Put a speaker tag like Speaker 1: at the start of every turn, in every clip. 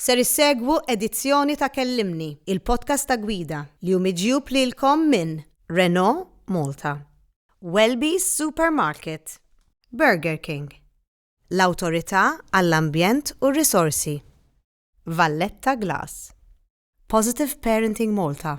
Speaker 1: Ser issegwu edizzjoni ta' Kellimni, il-podcast ta' gwida li hu miġjub lilkom minn Renault Malta, Welby's Supermarket, Burger King, l-Awtorità għall-Ambjent u r-Risorsi, Valletta Glass, Positive Parenting Malta,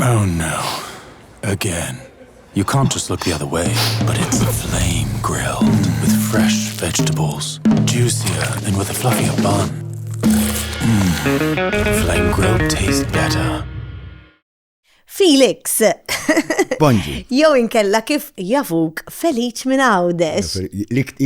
Speaker 2: Oh
Speaker 3: no. Again. You can't just look the other way, but it's flame grilled with fresh vegetables, juicier and with a fluffier bun. Mm. Flame grilled tastes better. Felix.
Speaker 1: Bonġi.
Speaker 4: Jew inkella
Speaker 1: kif jafuk Feliċ minn Għawdex.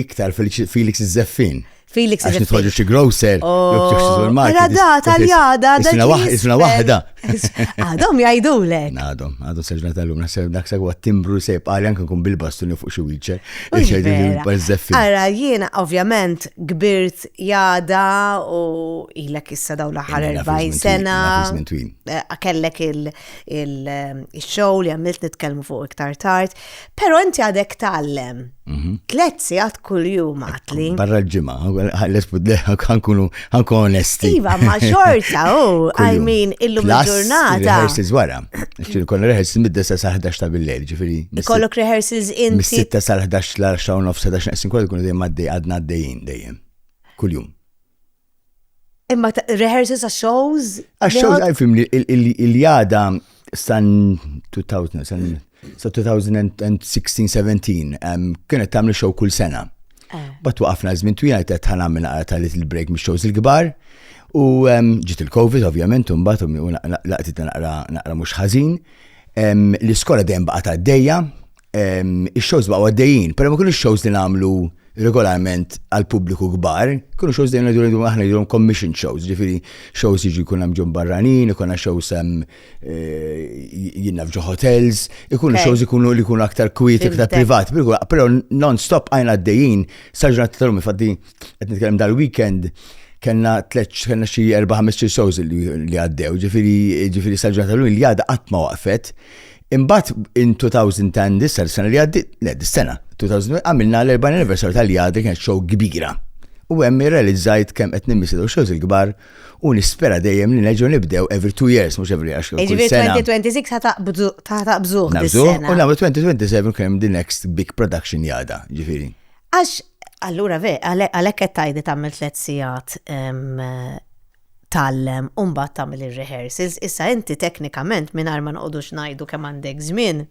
Speaker 1: Iktar
Speaker 4: Felix Zeffin. Felix is nitħolġu
Speaker 1: xi grocer,
Speaker 4: Għada
Speaker 1: da, taljada, da. Isna waħda, isna waħda.
Speaker 4: Għadhom
Speaker 1: jgħidu lek. Għadhom, għadhom seġna
Speaker 4: tal-lum, naħseb dak sa għat timbru sejb, għalli anke kun bil-bastuni fuq xi wieċer, xejdu li bazzeffi.
Speaker 1: Għara, jiena ovvjament kbirt jada u ilek issa daw l-ħar 40 sena. Eh, kellek il-show eh, li għamilt nitkellmu fuq iktar tard, Pero inti għadek tallem. Mhm. Tlet sigħat kuljum għatli. Barra
Speaker 4: l-ġimgħa, ħankunu ħanku onesti. Iva, ma
Speaker 1: xorta, u, I mean, illum il-ġurnata. Rehearsals wara.
Speaker 4: Xtiri kon rehearsals mid-dessa sa' 11 ta' bil-lejl, ġifiri. Ikollok rehearsals
Speaker 1: inti. Mis-sitta sa' 11 l-10
Speaker 4: u nofsa 11 naqsin kollu kun dejjem għaddej għadna għaddejjin dejjem. Kuljum.
Speaker 1: Imma rehearsals għax shows? Għax shows għalfim
Speaker 4: li jada san 2000, san 2016-17, kienet tamli show kull sena. Eh. Bat waqafna żmien twila qed ħana minn għara tal little break mix shows il-kbar. U ġiet il-Covid ovvjament u mbagħad u laqtit naqra naqra mhux ħażin. L-iskola dejjem baqgħet għaddejja, Ix-shows baqgħu għaddejjin, però ma kienux shows li nagħmlu regolarment għal pubbliku kbar, kienu shows li għandu aħna jidhom commission shows, ġifiri shows jiġu jkun hemm ġon barranin, ikun shows hemm eh, jinnaf ġo hotels, ikunu shows ikunu li jkunu aktar kwiet, aktar privat, però non-stop għajna għaddejjin, saġnat tal-lum, infatti, qed nitkellem dal-weekend, kena tleċ, kena xie erba ħamesċi shows li għaddew, ġifiri, ġifiri saġġata l-lum li għada għatma waqfet, Imbagħad in 2000 tan dissar sena li għaddi, le dis-sena, 2000 għamilna l-40 anniversary tal-jadri kienet show kbira. U hemm irrealizzajt kemm qed nimmissi daw shows il-kbar u nispera dejjem li neġgħu nibdew every two years mhux every għax kull Ġifieri
Speaker 1: sena. 2026 ħataqbżu Nabżu dis-sena. u nagħmlu
Speaker 4: 2027 kemm the next big production jada, ġifieri. Għax,
Speaker 1: allura ve, għalek qed tajdi tagħmel tliet sigħat em, tgħallem u mbagħad tagħmel ir-rehearsals. Issa inti teknikament mingħajr ma noqogħdux ngħidu kemm għandek żmien,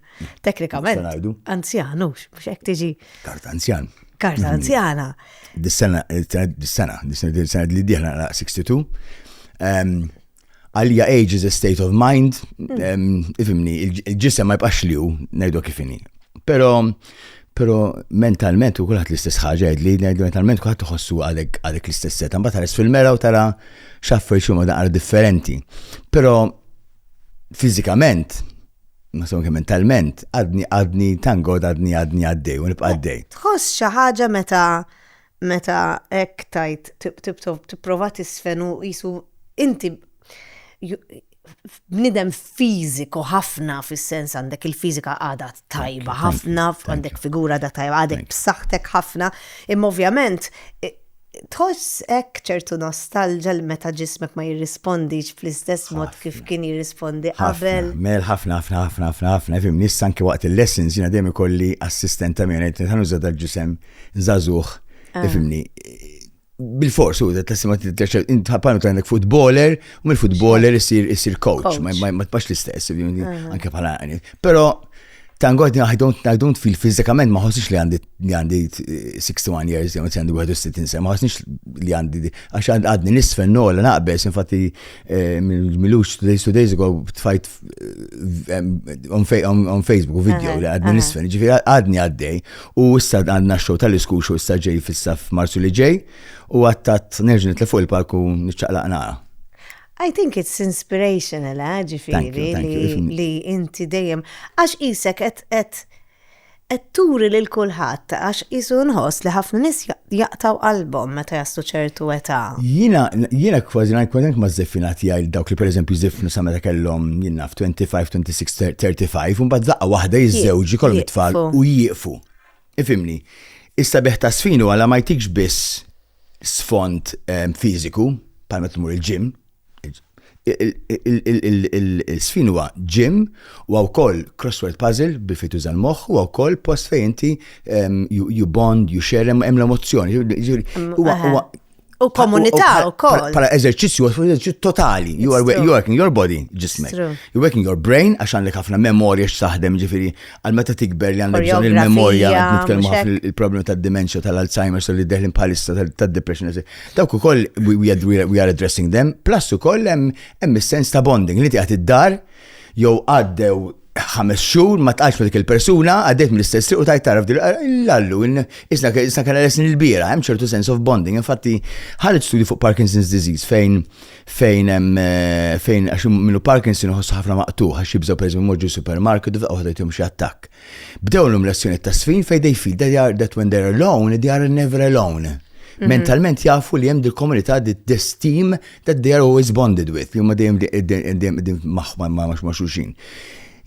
Speaker 1: teknikament. ngħidu? Anzjan hux, mhux hekk tiġi. Kart anzjan.
Speaker 4: Kart mhm. anzjana.
Speaker 1: Dis-sena,
Speaker 4: dis-sena, dis-sena li dieħla 62. Għalija age is a state of mind, mm. ifimni, il-ġisem ma jibqax li hu, ngħidu kifini. Però Pero mentalment u kulħadd l-istess ħaġa li ngħidu mentalment kulħadd iħossu għalek għalek l-istess seta. Mbagħad ħares fil-mera u tara xaffer xi moda qara differenti. Pero fiżikament ma son kemm mentalment għadni għadni tangod għadni għadni għaddej u nibqa' għaddej. Tħoss xi ħaġa
Speaker 1: meta meta hekk tajt tipprova tisfen u qisu inti bnidem fiżiku ħafna fis-sens għandek il-fiżika għadha tajba ħafna, għandek figura għadha tajba, għadek b'saħħtek ħafna, imma ovvjament tħoss hekk ċertu nostalġa li meta ġismek ma jirrispondix fl-istess mod kif kien jirrispondi qabel. Mel ħafna ħafna
Speaker 4: ħafna ħafna ħafna fim nissan ki waqt il-lessons jiena dejjem ikolli assistent ta' minn qed nuża dal-ġisem zazuħ, ah. ifimni, bil-fors u da t-tessima t-terċer, intħapanu ta' għandek futboler, u mill futboler jisir jisir coach, ma t-pax l-istess, anke bħala għani. Pero, tangod, I don't, I don't feel fizikament, ma ħosix li għandi li għandi 61 years, jew għandi 61 sena, ma ħosnix li għandi, għax għadni nisfen nola naqbes, infatti Milux days to days ago tfajt on Facebook u video li għadni nisfen, ġifiri għadni għaddej u issa għadna xow tal-isku xow issa ġej fissa f'Marsu li ġej u għattat nerġin li fuq il-palku nċaqlaq nara. I
Speaker 1: think it's inspirational, eh, ġifiri li inti dejjem għax isek et Qed turi lil kulħadd għax qisu nħoss li ħafna nies jaqtgħu qalbhom meta jaslu ċertu età. Jiena jiena
Speaker 4: kważi ngħid kważi maż-żiffinha tiegħi lil dawk li pereżempju jżiffnu sa meta kellhom, jien naf, twenty five, twenty six, thirty five u mbagħad f'daqqa waħda jiżżewġu jkollhom it-tfal u jieqfu. Ifhimni. Is-sabiħ taż-żfin huwa la ma jtikx biss sfond fiżiku bħal meta tmur il-gym, il-sfin huwa gym, huwa wkoll crossword puzzle bi fit tuża l-moħħ, huwa wkoll post fejn inti ehm, you bond, you share, hemm l-emozzjoni. Mm, huwa huwa
Speaker 1: U komunità u koll. Pala eżerċizzju,
Speaker 4: eżerċizzju totali. You are working your body, ġismek. You're working your brain, għax għandek ħafna memorja x'taħdem ġifiri, għal meta tikber li għandek bżon il-memorja, nitkellmu ħafna il-problema tad dementia tal-Alzheimer, so li deħlin bħalissa tad-depression. Dawk ukoll we are addressing them, plus ukoll hemm is-sens ta' bonding li tiegħed id-dar jew għaddew ħames xhur ma tqajx ma dik il-persuna għaddejt mill-istess triq u tajt taraf l-allu isna isna kellha lesni l-bira hemm ċertu sense of bonding infatti ħareġ studju fuq Parkinson's disease fejn fejn hemm fejn għax minnu Parkinson iħossu ħafna maqtuħ għax jibżgħu pereżempju moġġu supermarket u f'daqqa jtihom xi attakk. Bdew l lezzjoni ta' sfin fejn they feel that, are, that when they're alone, they are never alone. Mhm. Mentalment jafu li hemm dil-komunità di destim that they are always bonded with, li huma dejjem dejjem maħma ma' ma' xulxin.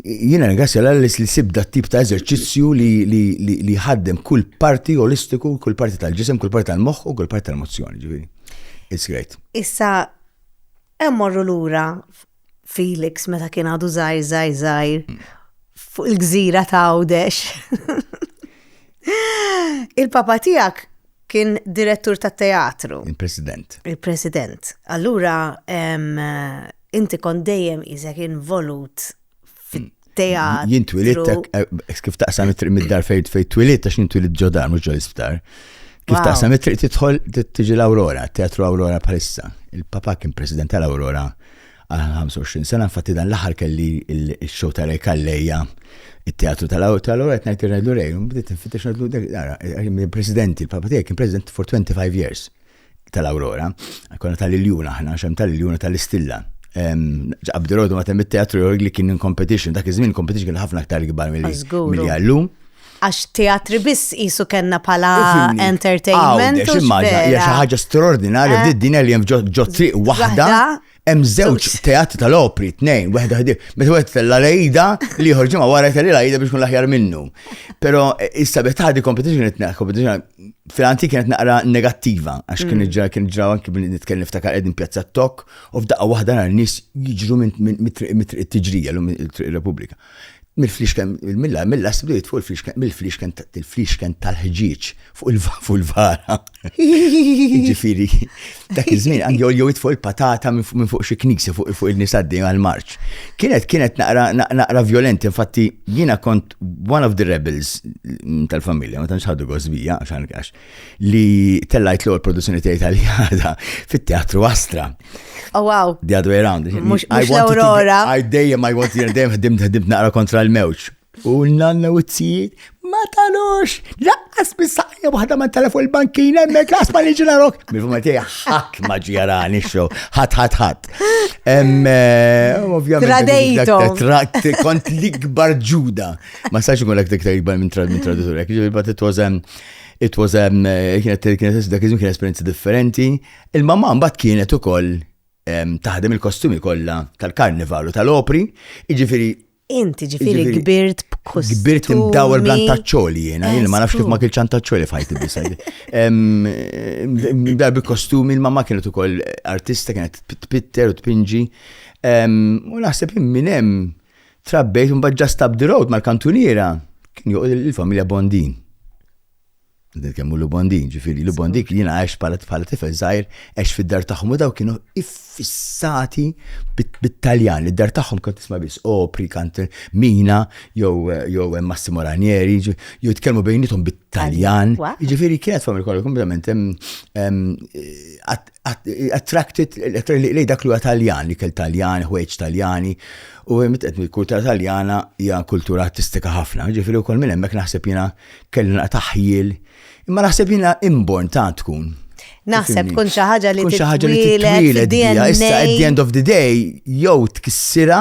Speaker 4: Jiena ringrazzja l-għallis li sibda tip ta' eżerċizzju li ħaddem kull parti olistiku, kull parti tal-ġisem, kull parti tal-moħħ u kull parti tal-mozzjoni, ġifieri. It's great. Issa,
Speaker 1: hemm morru lura Felix meta kien għadu żgħir żgħir żgħir mm. fuq il-gżira ta' Għawdex. Il-papa tiegħek kien direttur ta' teatru. Il-president. Il-president. Allura, inti kont dejjem isek involut fit-teatru. Jien twilit,
Speaker 4: eh, kif taqsam it-triq mid-dar fejn fejn twilit, għax jien twilit ġodar, mhux ġol isptar. Kif taqsam it-triq tidħol tiġi l-Aurora, teatru Aurora bħalissa. Il-papa kien president tal-Aurora għal 25 sena, infatti dan l-aħħar kelli il-show ta' Rej Kalleja, il-teatru tal-Aurora, qed ngħid irrejlu Rej, bdiet infittex ngħidlu dak, president, il-papa tiegħi kien president for 25 years. tal-Awrora, konna tal-iljun aħna, xem tal-iljun u tal-istilla. Abdirodu ma temmi teatru jorg li kien in competition, dak iż-żmien competition kien ħafna aktar gbar mill-għallum. Għax teatri
Speaker 1: biss jisu kena pala entertainment. Għax
Speaker 4: ħaġa straordinarja eh. f'did-dinja li jem ġo triq wahda. Hemm żewġ teatri tal-opri, tnejn, waħda ħdi, meta wieħed tella lejda li ieħor ġimgħa wara telli lejda biex kun l-aħjar minnu. Però eh, issa biex taħdi competition qed naqra competition fil-antik kienet naqra negattiva għax kien mm. ġra kien ġra anki billi nitkellem ftakar qegħdin pjazza tok u f'daqqa waħda nhar nies jiġru minn triq it-tiġrija l-Repubblika. Mill-fliexken, milla, milla, sbdiet fuq il-fliexken, mill-fliexken, il-fliexken tal-ħġieġ fuq il-vara. Ġifiri, dak iż-żmien għandi joljow fuq il-patata minn fuq xi knisja fuq il-nisaddi għal-marċ. Kienet kienet naqra violenti, infatti jiena kont one of the rebels tal-familja, ma tantx ħadu gosbija għax li tellajt l-ewwel produzzjoni tiegħi tal-jada fit-Teatru Astra. Oh wow.
Speaker 1: The other way around. Mux
Speaker 4: l-Aurora.
Speaker 1: I dejjem I want
Speaker 4: to dejjem ħdimt ħdimt naqra kontra l-mewġ. U l-nanna u t-tsijiet, ma talux, laqqas bis-saqja waħda ma tala fuq il-bankina, me klas ma liġi narok. Mifu ma tiegħi ħadd ma ġjarani xo, ħadd ħadd ħadd. Eh,
Speaker 1: ovvjament. Tradejtu. Kont
Speaker 4: l-ikbar ġuda. Ma sax ikun l-iktar ikbar minn traditur. It was, um, It was a, kienet kienet dak iż-żmien kien esperjenza differenti. Il-mamma mbagħad kienet ukoll taħdem il-kostumi kollha tal-karnival u tal-opri, jiġifieri
Speaker 1: Inti ġifiri kbirt b'kustumi. Kbirt imdawel
Speaker 4: blantaċċoli jena, jena ma nafx kif ma kilċ antaċċoli fajti bisa. Mdar b'kostumi, il-mamma kienet ukoll artista, kienet tpitter u tpinġi. U naħseb minn hemm Trabbejt mbagħad ġast up the road mal-kantuniera kien joqgħod il-familja Bondin. Kemmu l Bondin, ġifiri, l Bondin kien jina għax bħala bħala tifel zaħir, għax fid-dar tagħhom u daw kienu iffissati bit-Taljan, li d-dar tagħhom kont tisma' biss opri, kant mina, jew jew Massimo Ranieri, jew tkellmu bejnietom bit-Taljan. Ġifiri kienet familja kollha kompletament attracted li dak li huwa Taljan, ikel Taljan, ħwejġ Taljani, u mitet il-kultura Taljana hija kultura artistika ħafna, ġifieri wkoll minn hemmhekk naħseb jiena kellu taħjil. Imma naħseb jiena inborn ta' tkun.
Speaker 1: Naħseb tkun xi ħaġa li tkun xi ħaġa li titwiled issa at
Speaker 4: the end of the day jew tkissira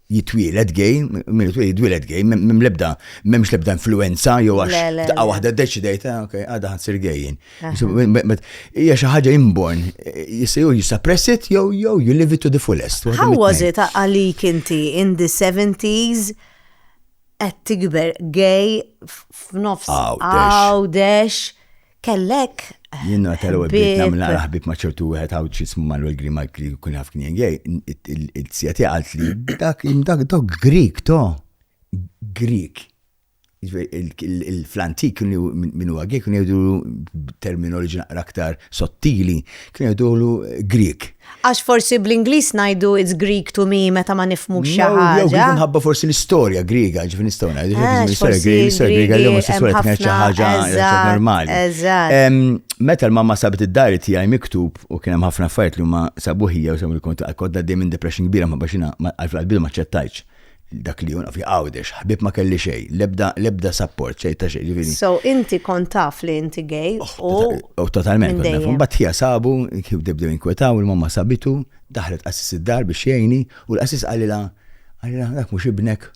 Speaker 4: jitwieled gay, minn jitwieled jitwieled gay, minn lebda, m'hemmx lebda influenza jew għax daqqa waħda ddeċidejt, ah, ok, għadha ħansir gejjin. Hija xi ħaġa inborn, jista' jew jisappress it jew jew you live it to the fullest. How was it
Speaker 1: għalik inti in the 70s qed tikber gay f'nofs għawdex? kellek. Jiena tal-ewwel
Speaker 4: bdiet nagħmel naqra ħbib ma' ċertu wieħed għawd x'ismu Manuel Grimalk li kun jaf kien gej, il-sija tiegħi qalt li dak dak dok Grik to. Grik. Il-flantik kienu minn huwa gej kienu jgħidu terminoloġi naqra aktar sottili, kienu jgħidu Grik. Għax forsi
Speaker 1: bl-Ingliż ngħidu it's Greek to me meta ma nifmux xi ħaġa. Jew kif nħabba forsi
Speaker 4: l-istorja Griega, ġifi nistgħu ngħidu. Ah, l-istorja Griega, l-istorja Griega li huma s-sura kienet xi ħaġa normali. Meta l-mamma sabet id-dari tiegħi miktub u kien hemm ħafna affarijiet li huma sabuħija u sabu l-kont għal kodda dejjem depression kbira ma baxina għal-qalbidu ma ċettajċ. Dak li jonqof li Għawdex, ħbieb ma kelli xejn, l-ebda l-ebda sapport xejn ta' xejn, ġifieri. So inti kont
Speaker 1: taf li inti gay u. U totalment
Speaker 4: kont naf. Imbagħad ħija sabu, bdew jinkwetaw, il-mamma sabitu, daħlet qassis id-dar biex jgħinni u l-qassis qalilha, qalilha dak mhux ibnek,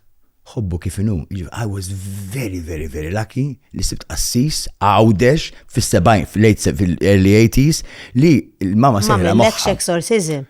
Speaker 4: ħobbu kif inhu. Jiġifieri I was very very very lucky li sibt qassis Għawdex fis-sebgħin, fil-late fil-early eighties li l-mamma sejħilha moħħha. Ma għamillekx exorcism?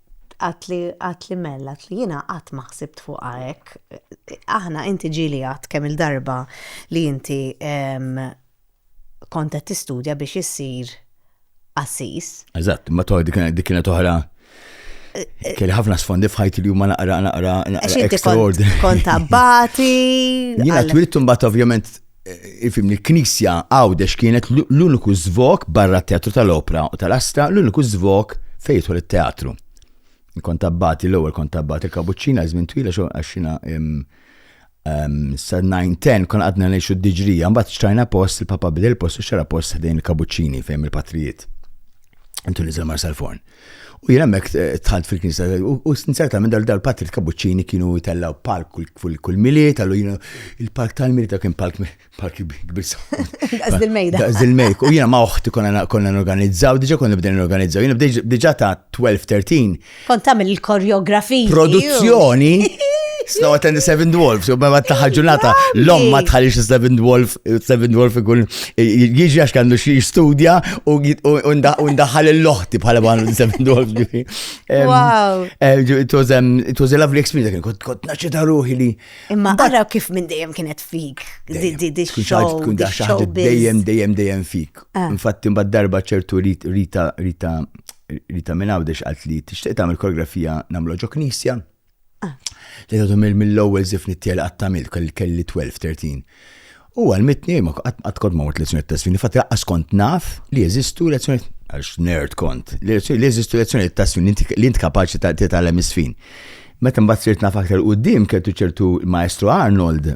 Speaker 1: Għat li għat li mell, għat li jiena qatt ma ħsibt fuqha hekk. Aħna inti ġieli għadt kemm il-darba li inti kont qed tistudja biex issir qassis. Eżatt, ma toħ
Speaker 4: dik kienet oħra. Eh, Kelli ħafna sfondi f'ħajti li huma naqra naqra naqra extraordinary. Kont abbati.
Speaker 1: Jiena
Speaker 4: twiltu mbagħad ovvjament Ifimni, l-Knisja Għawdex kienet l-uniku żvok barra t-teatru tal-opra u tal-astra, l-uniku żvok fejn jidħol it-teatru. Kont abbati l-ewwel kont abbati l-kabuċċina żmien twila xogħol għaxina sa 9-10 kon għadna ngħixu d-diġrija, mbagħad xtrajna post il-papa bidel post u xara post ħdejn il-kabuċċini fejn il-patrijiet. Intu niżel mar sal-forn. U jien hemmhekk eh, tħalt fil-Knisja u sinzerta minn dal-patri kabuċċini kienu jtellaw palk kull miliet, għallu jiena il-palk tal-miliet kien palk palk kbir. Għaż
Speaker 1: il-mejda. Għaż il-mejk. U jiena
Speaker 4: ma' oħti konna n-organizzaw, diġa konna bdejn n-organizzaw, jiena diġa ta' 12-13. Kont tagħmel
Speaker 1: il-koreografija. Produzzjoni.
Speaker 4: Snow attend the Seven Dwarfs, u ma taħħa ġurnata, l-om ma tħalix Seven Dwarf, Seven Dwarf ikun jiġi għax kandu xie jistudja u ndaħħal l-loħti bħala ma nsemmi dwarf ġifi. Wow.
Speaker 1: Eh, it was um,
Speaker 4: it was a lovely experience, kien kont kont naċċeta ruħi li. Imma għara kif
Speaker 1: minn dejjem kienet fik. Kun daċċaħt dejjem
Speaker 4: dejjem dejjem fik. Ah. Infatti mbagħad darba ċertu Rita Rita Rita minn għawdex għalt li tixtieq tagħmel koreografija nagħmlu ġo knisja. Li għadu mill-ewwel zif nittiel għattamil kelli 12-13. U għal-mitni, ma għad kod ma għot lezzjoni t-tasfini, fatt għas kont naf li jeżistu lezzjoni, għax nerd kont, li jeżistu lezzjoni t-tasfini li int kapaċi t-talem isfin. Meta mbagħad sirt naf aktar qudiem keltu ċertu maestru Arnold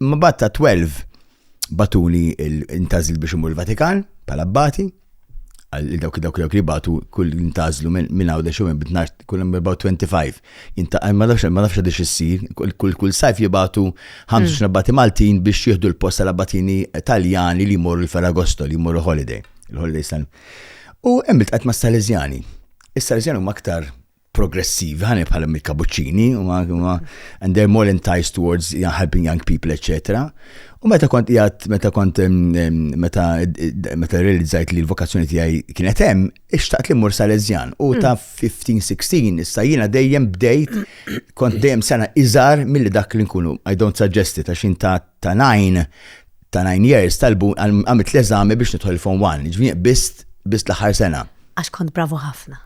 Speaker 4: Ma bat ta' 12 batuli intazil biex imur il-Vatikan pal abbati għal dawk dawk dawk li batu kull intazlu minn għaw da xumem bitnar kull about 25 inta ma nafx ma nafx għadix issir kull kull sajf jibatu 25 mm. abbati Maltin biex jieħdu l-post tal-abbatini Taljani li jmorru l-Ferragosto li jmorru holiday il-holiday san. U hemm il-tqat ma' Salezjani. Is-Salezjani huma aktar progressivi, ħani bħal il-kabuċċini, and they're more enticed towards you know, helping young people, etc. U meta kont jgħat, meta kont, meta, meta realizzajt li l-vokazzjoni tijaj kienet hemm, ixtaqt li mur Salezjan. U ta' 15-16, issa jina dejjem bdejt, kont dejjem sena iżar mill dak li nkunu. I don't suggest it, għax ta' ta' nine, ta' nine years talbu għamilt l-eżami biex nidħol il-form one, ġvini bist bist l-aħħar sena. Għax kont bravu
Speaker 1: ħafna.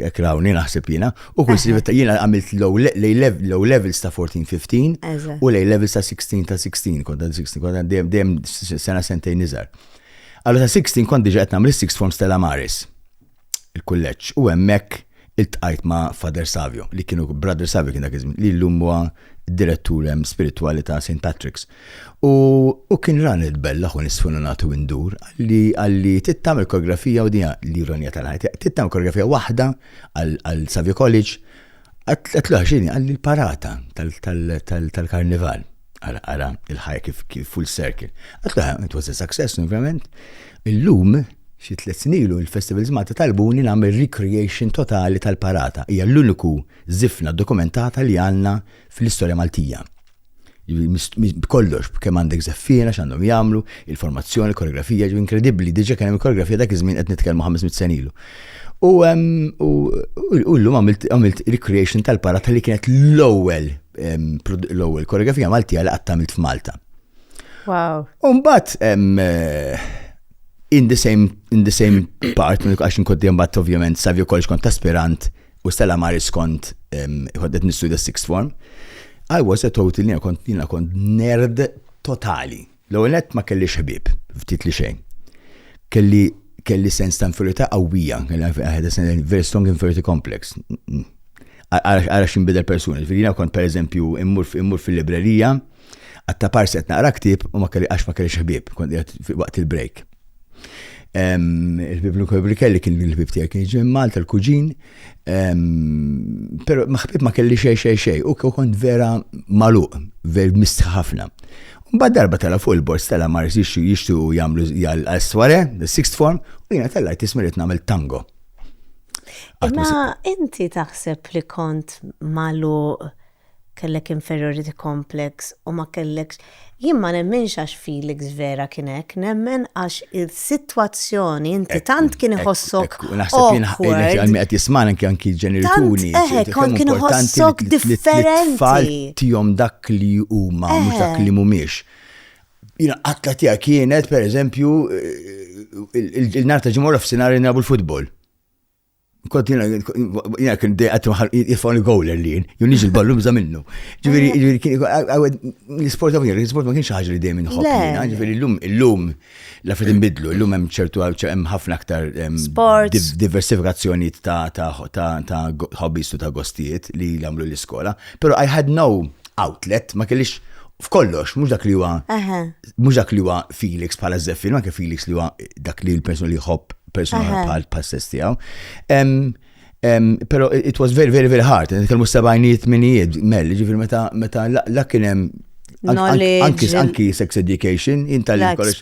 Speaker 4: Ekrawni naħseb jina. U kull sivet jina għamilt low levels ta' 14-15 u lej levels ta' 16 ta' 16, kont ta' 16, kont ta' dem dem sena sentejn nizar. Għallu ta' 16 kont diġa għetna mill-6 forms tal-Amaris. il-kulleġġ u hemmhekk iltqajt ma' Father Savio li kienu Brother Savio kien dak iż-żmien li llum huwa direttur hemm spiritwali ta' St. Patrick's. U, u kien rani tbellaħ u nisfununat u indur li għalli tittam il-koreografija u dija l-ironija tal-ħajt. Tittam koreografija waħda għal Savio College għatlu għaxini għalli l-parata tal-karnival. Ara, ara, il-ħajja kif, kif full circle. Għatta, it was a success, ovvjament. Illum, xi tliet snilu, il-festivals Malta talbuni nagħmel recreation totali tal-parata. Hija l-uniku zifna dokumentata li għandna fl-istorja Maltija. Kollox, kemm għandek zeffina, x'għandhom jagħmlu, il-formazzjoni, il-koreografija, ġu inkredibbli, diġa kien hemm il-koreografija dak iż-żmien qed nitkellmu 500 senilu. U llum għamilt recreation tal-parata li kienet l-ewwel l-ewwel koreografija Maltija li qatt tagħmilt f'Malta. Wow.
Speaker 1: Umbat, eh, in the
Speaker 4: same, in the same part, minn għax nkont dejjem bat ovvjament savju kollox kont aspirant u Stella Maris kont għoddet nistudja sixth form. I was a total, jina kont, jina kont nerd totali. L-ewwel nett ma kellix ħbieb, ftit li xejn. Kelli kelli sens ta' inferiorità qawwija, very strong inferiority complex. Ara x'inbidel persuni, ġifieri jiena kont pereżempju immur fil-librerija, għadd ta' parsi qed naqra ktieb u ma kelli għax ma kellix ħbieb, kont qiegħed waqt il-break. Il-ħbib l-ħbib kelli kien il-ħbib tiegħi kien ġej Malta l-kuġin, però maħbib ma kelli xej xej xej, u kont vera maluq, vera mistħi ħafna. Mbagħad darba tala fuq il-bors tala mar jixtu jagħmlu l-asware, l-sixth form, u jiena tellajt tismirit nagħmel tango.
Speaker 1: Ma inti taħseb li kont maluq kellek inferiority complex u ma kellekx, jien ma nemminx għax Felix vera kien hekk, nemmen għax is-sitwazzjoni inti tant kien iħossok awkward. Għal min qed jismana anke
Speaker 4: anki ġenituri. Eħek, kont kien
Speaker 1: iħossok differenti. Tfal tihom
Speaker 4: dak li huma, mhux dak li mhumiex. Jina qatta tija kienet, per eżempju, il-nar ta' ġimgħa f'sinar nabu l-futbol. kont jina, jina kien dejqat jifgħu gowler li jien, jien nix il-ballu bża minnu. Ġviri, ġviri, kien l-sport għavni, l-sport ma kienx ħagġa li dejjem nħobb jina, ġviri, l-lum, l-lum, la fid nbidlu, l-lum hemm ċertu hemm ħafna aktar diversifikazzjoni ta' hobbies u ta' gostijiet li jagħmlu l-iskola, pero I had no outlet, ma kellix f'kollox, mux dak li huwa, mux dak li huwa Felix bħala Zeffin, ma kif Felix li huwa dak li l-persuna li jħobb persuna bħal pass-sess tiegħu. Pero it was very, very, very hard. Nitkellmu sebajnijiet minijiet, mel, ġifir meta meta la kien hemm Anki, anki sex education, jinta li kollox.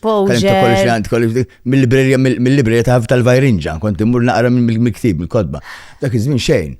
Speaker 4: kollox mill-librerja, mill-librerja ta' tal-vajrinġa, kont immur naqra mill-miktib, mill-kodba. Dak iż-żmien xejn.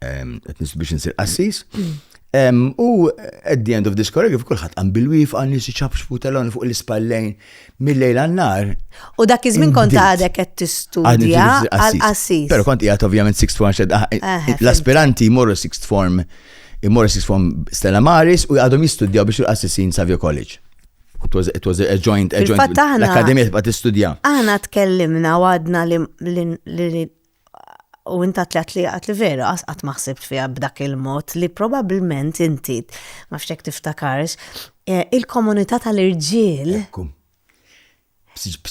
Speaker 4: qed nislu biex insir qassis. U at the end of this choreography kulħadd qam bil-wif għan nies iċabxfu telon fuq l-ispallejn mill-lejl għan-nar. U dak iż-żmien
Speaker 1: kont għadek qed tistudja għal qassis. Però kont qiegħed ovvjament
Speaker 4: sixth form ah, eh, eh, eh, l-aspiranti jmorru sixth form jmorru sixth form Stella Maris u għadhom jistudjaw biex il-qassisin Savio College. It was, it was a joint, a joint. L-Akademija tibqa' tistudja. Aħna tkellimna
Speaker 1: u għadna li u inta tlat li għat li vera għas għat maħsibt fija b'dak il-mod li probabilment inti, ma fxek tiftakarx, eh, il-komunità tal-irġiel.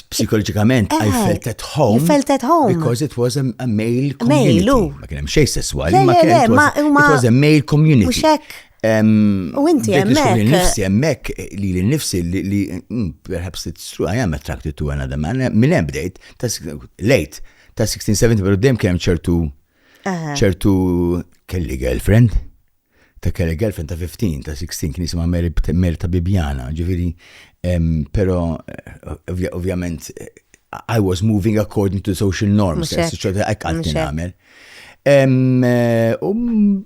Speaker 4: Psikologikament, I eh, felt at home. You felt at home. Because
Speaker 1: it was a, a male
Speaker 4: community. Male, u. Ma kienem xej sessuali, ma kienem. It was a male community. Muxek.
Speaker 1: U inti jemmek. Nifsi jemmek
Speaker 4: li li nifsi li mm, perhaps it's true, I am attracted to another man. Minn bdejt, late, Ta' 1670 pero dem kem ċertu ċertu kelli girlfriend. Ta' kelli girlfriend ta' 15, ta' 16 kien jisimha Mary ta' Bibjana, ġifieri pero eh, ovvjament I was moving according to social norms, ċertu hekk għalti nagħmel. Eh, um,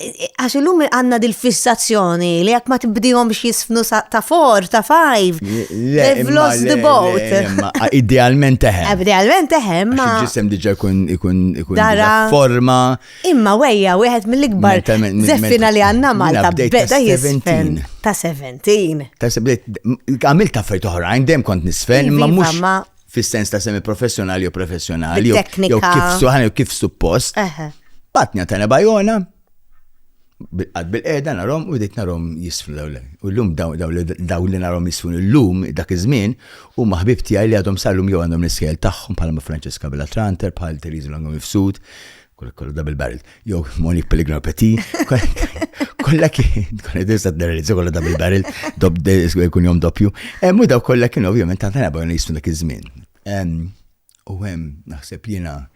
Speaker 1: Għax illum għanna dil-fissazzjoni li jekk ma tibdihomx jisfnu ta' for, ta' five. They've lost the boat. Idealment
Speaker 4: teħem. Idealment teħem. Ma
Speaker 1: ġisem diġa jkun
Speaker 4: ikun ikun forma. Imma
Speaker 1: wejja wieħed mill-ikbar zeffina li għanna Malta beda jisfen. Ta' 17. Ta' 17.
Speaker 4: Għamil ta' fejt oħrajn, dem kont nisfen, ma mux. fis-sens ta' semi-professjonali jew professjonali, jew kif
Speaker 1: kif
Speaker 4: suppost. Patnja ta' nebajona, għad bil-qeda narom u dik narom jisfru daw U l-lum daw li narom jisfru l-lum dak iż-żmien u maħbib tiegħi li għadhom sal-lum jew għandhom l-iskel tagħhom bħal Francesca Bellatranter, bħal Teresa Longo Mifsud, Kollu double barrel. Jew Monique Pellegrino Petit, kollha kien, kollha disa d-derelizza kollha double barrel, dob kun jom doppju. Mu daw kollha kien ovvjament ta' tana bajna jisfun dak iż-żmien. U hemm naħseb jiena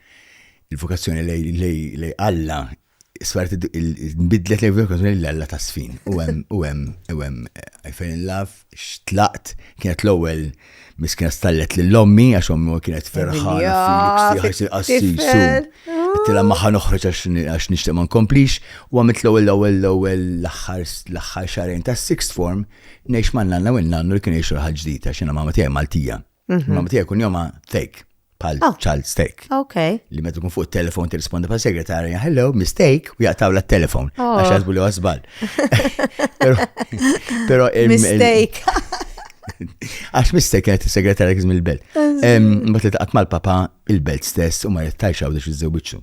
Speaker 4: il-vokazzjoni lej Alla sfart nbidlet lej vokazzjoni lej Alla ta' sfin. U hemm u hemm u hemm I fell in love xtlaqt, kienet l-ewwel miskina stallet lil ommi għax ommi kienet ferħana fil-qassis qassis. Tila maħħa noħroġ għax nixtieq ma nkomplix u għamilt l-ewwel l-ewwel l-ewwel l-aħħar l-aħħar xarejn ta' sixth form ngħix ma' nanna u nannu li kien jgħix ħaġ ġdida x'inha mamma tiegħi Maltija. Mhm. Mamma tiegħi kun jomha fake. pal oh. child stake. Ok. Li meta tkun
Speaker 1: fuq il-telefon
Speaker 4: tirrispondi pal segretarja, hello, mistake, u jaqtaw la telefon oh. Għax għazbu li għazbal. Pero. Mistake. Għax mistake kienet il-segretarja kizm il-belt. Bat li taqat mal-papa il-belt stess u ma jittajx għawdex iż-żewġu.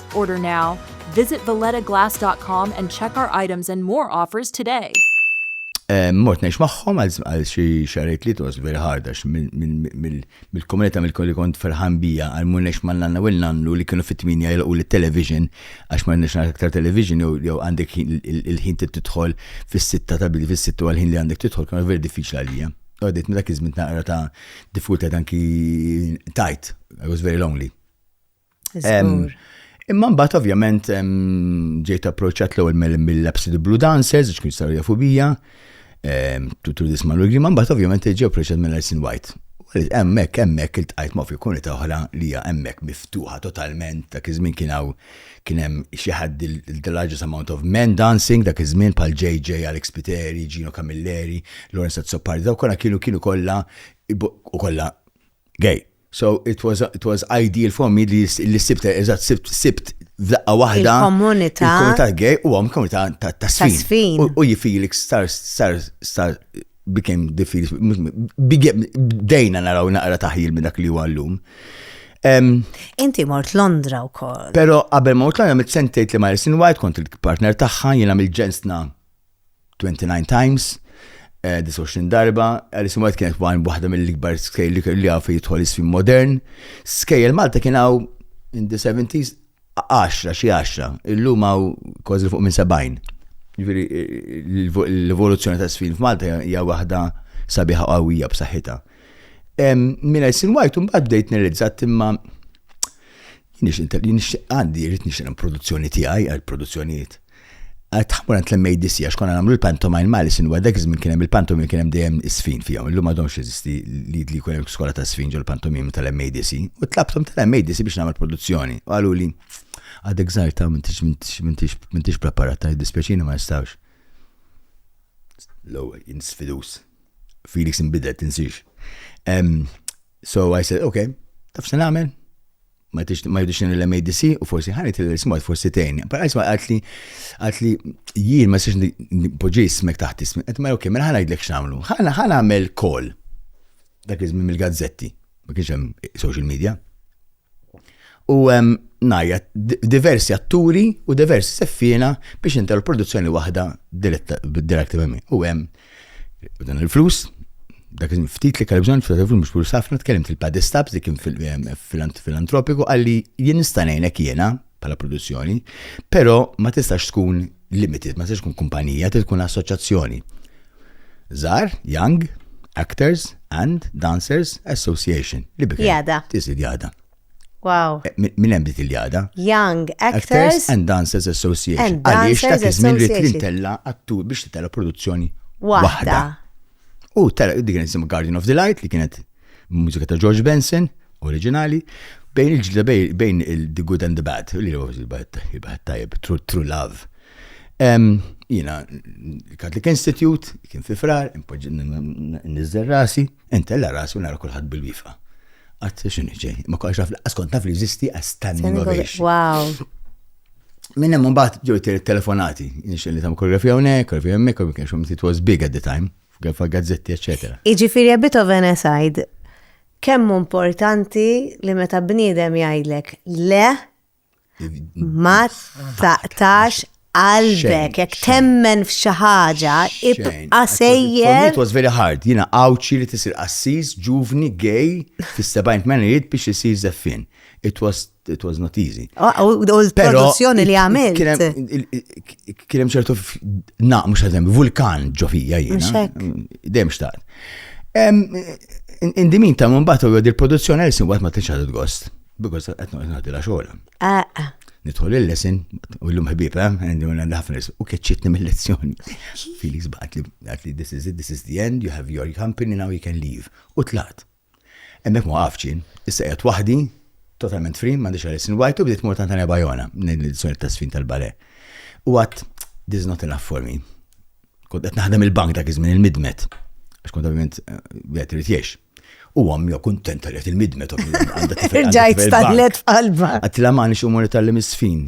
Speaker 5: Order now. Visit vallettaglass.com and check our items and more offers today. Eh,
Speaker 4: mort nex maħħom għal xi xarajt li tos very hard għax mill-komunità mill-kolli kont ferħan bija għal mur nex ma' nanna u nannu li kienu fit-tminja jilqu l-television għax ma' nex aktar television jew għandek il-ħin tidħol fis-sitta ta' bidi fis-sitta għal ħin li għandek tidħol kienu veri diffiċli għalija. Għadit minn dak iż-żmien naqra ta' diffikultà anki tajt, I was very lonely. Imma mbagħad ovvjament ġejt approċċat l-ewwel mill-Labs the Blue Dancers, ġkun jistgħu jafu bija, tutur disma l ma mbagħad ovvjament ġew approċċat minn Nelson White. Hemmhekk hemmhekk iltqajt ma' fil-komunità oħra li hija hemmhekk miftuħa totalment dak iż-żmien kien hawn kien hemm xi ħadd the largest amount of men dancing dak iż-żmien bħal JJ Alex Piteri, Gino Camilleri, Lawrence Azzopardi, daw kollha kienu kienu kollha u kollha Gay. So it was, it was ideal for me li li sibt, eżatt, sibt, sibt f'daqqa waħda. Il-komunità. Il-komunità gay u għam komunità ta' sfin. U jifilix star, star, star, became the feels, bdejna naraw naqra taħjil minn dak li huwa llum.
Speaker 1: Inti mort Londra u kol. Pero qabel mort
Speaker 4: Londra mit sentejt li Marison White kont il-partner tagħha jiena mill-ġensna 29 times, 29 eh, darba, Alice in White kienet għan waħda mill-ikbar skejl li kelli għafu jitħol isfim modern. Skejl Malta kien għaw in the 70s 10, xie 10, illum għaw kważi fuq minn 70. Ġviri, l-evoluzzjoni ta' sfin f'Malta hija waħda sabiħa qawwija b'saħħitha. Minn Alice in White, un bad bdejt nirrizzat imma Nixtieq għandi, rrit nixtieq produzzjoni tiegħi għal produzzjonijiet. Għad tħammur għand l-MADC għax konna nagħmlu l-pantomime mali sinwa dak iż-żmien kien hemm il-pantomime kien hemm dejjem isfin fihom. Illum m'għadhomx jeżisti li li jkun hemm skola ta' sfin ġol pantomime tal-MADC. U tlabthom tal-MADC biex nagħmel produzzjoni. U qalu li għadek żgħir ta' m'intix preparat ta' dispjaċini ma nistgħux. L-ewwel jinsfidus. Felix inbidel tinsiex. So I said, okay, taf se nagħmel? Ma jidux nil l-MADC u forsi ħanet il-smart forsi tejn. Pero għajsma għatli għatli jien ma s-siex poġi smek taħt ismi. Għet ma ok, mela ħana jidlek xamlu. ħana ħana għamel kol. Dak iżmin mill-gazzetti. Ma kienx hemm social media. U hemm ngħajja diversi atturi u diversi seffiena biex intel produzzjoni waħda diretta minn U hemm dan il-flus, dak ftit li kalbżon ftit il-flus mhux flus ħafna tkellimt il-Paddy Stabs li kien fil-antropiku qalli jien nista' ngħinek jiena bħala produzzjoni, però ma tistax tkun limited, ma tistax tkun kumpanija, trid tkun assoċjazzjoni. Zar, Young, Actors and Dancers Association. Li bikra. Jada. Tisid
Speaker 1: jada.
Speaker 4: Wow. Eh,
Speaker 1: min hemm dik
Speaker 4: il-jada? Young
Speaker 1: Actors, and Dancers
Speaker 4: Association. Għaliex ta' kizmin
Speaker 1: li trid
Speaker 4: tella
Speaker 1: attur
Speaker 4: biex titella produzzjoni waħda. U tella dik nisim Guardian of the Light li kienet Mużika ta' George Benson, oriġinali, bejn il-ġdida bejn il-The Good and the Bad, li huwa il-baħat tajjeb, True Love. Jina, il-Catholic Institute, kien fi frar, nizzer rasi, intella rasi u nara kullħat bil-wifa. Għat xinu ġej, ma kwax għaf, għaskont naf li jizisti għas standing ovation. Wow. Minn hemm mbagħad ġew telefonati, nixxel li tam koreografija hawnhekk, koreografija hemmhekk, koreografija hemmhekk, it was big at the time. f'gazzetti, eccetera. Jiġifieri Beethoven
Speaker 1: aside, kemm importanti li meta bniedem jgħidlek le ma taqtax qalbek, jekk temmen f'xi ħaġa, ibqa' sejjer. It was very hard.
Speaker 4: Jiena għawċi li tisir qassis, ġuvni, gay, fis-70 mena jrid biex isir zeffin. It was it was not easy. U
Speaker 1: l-produzzjoni li għamilt.
Speaker 4: Kienem ċertu naq, mux għazem, vulkan ġofija jina. Dem xtaqt. In dimin ta' mumbat u għod il-produzzjoni għal-sin għat ma t-nċadu gost Because għetnu għetnu għaddi la xola. Ah, ah. Nidħol il-lesson, u l-lum ħbib, eh, għandu għandu ħafna u keċċitni mill-lezzjoni. Felix baqat li, this is it, this is the end, you have your company, now you can leave. U tlat. Hemmhekk ma waqaftx jien, issa qiegħed waħdi, totalment free, m'għandix għaliex inwajt u bdiet mort għand Tania Bajona, ngħid l-edizzjoni ta' Sfin tal-Bale. U għadt, this is not enough for me. Kont qed naħdem il-bank dak iż-żmien il-midmet, għax kont ovvjament wieħed eh, irid jgħix. U għammi kontenta li il-midmet. Ġajt
Speaker 1: stallet f'qalba. Għatila ma nix umur
Speaker 4: tal-lim isfin.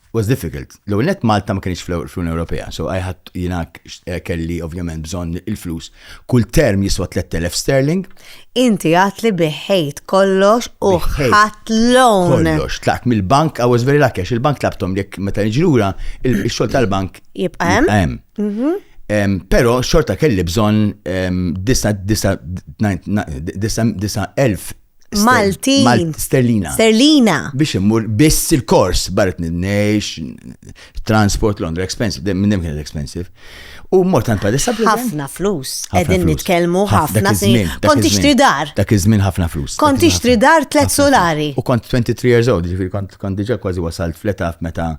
Speaker 4: was difficult. L-ewwel net Malta ma kienx fl-Unjoni Ewropea, so I had jiena eh, kelli ovvjament bżonn il-flus. Kull term jiswa 3000 sterling. Inti għat
Speaker 1: li biħejt kollox u ħadd loan. Kollox, tlaqt mill-bank,
Speaker 4: I was very lucky, il-bank tlabtom jekk meta niġrura, il-xogħol tal-bank jibqa' hemm.
Speaker 1: Mhm. Pero xorta
Speaker 4: kelli bżon 9,000 Maltin.
Speaker 1: Sterlina.
Speaker 4: Sterlina. Biex immur biss il-kors baret nidnejx, transport Londra expensive, minn hemm kien expensive. U mort għand padessa Ħafna flus.
Speaker 1: Qegħdin nitkellmu ħafna żmien. Kont tixtri dar. Dak iż-żmien ħafna flus.
Speaker 4: Kont tixtri dar tliet
Speaker 1: solari. U kont 23 years
Speaker 4: old, ġifieri kont diġà kważi wasalt fl-età meta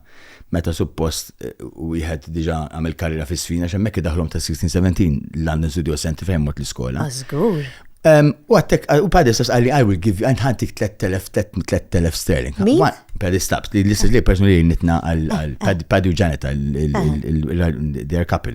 Speaker 4: meta suppost wieħed diġà għamel karriera fis-sfina għax hemmhekk idaħlhom ta' 16-17 London Studio Center fejn mort l-iskola. Żgur.
Speaker 1: U għattek,
Speaker 4: u padis tas għalli, I will give you, għantik 3000 sterling. Min? Padis
Speaker 1: taps, li
Speaker 4: l-istess li person li nitna għal-padu ġaneta, their couple.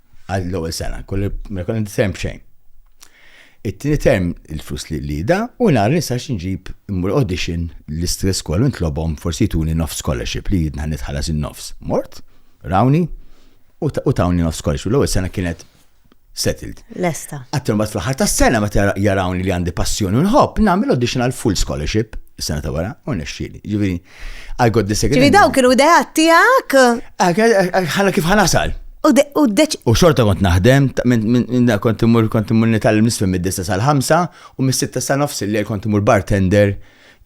Speaker 4: għal l-ewwel sena, kolli ma jkun għandi term xejn. It-tieni term il-flus li li da u nara nista' x'inġib immur audition l-istress kollu nitlobhom forsi jtuni nofs scholarship li jidna nitħallas in-nofs. Mort, rawni u tawni nofs scholarship. L-ewwel sena kienet settled. Lesta. Għattum bat fl-ħar ta' sena ma jarawni li għandi passjoni nħobb, nagħmel audition għal full scholarship, sena ta' wara, u nexxili. Ġifieri, I got the second. Ġivi daw kienu ideat
Speaker 1: tijak? Ah,
Speaker 4: ħana kif ħanasal. U deċ. U
Speaker 1: xorta kont naħdem,
Speaker 4: minn kont imur kont imur nital nisfem mid-dista sal-ħamsa u mis-sitta sa nofs li kont imur bartender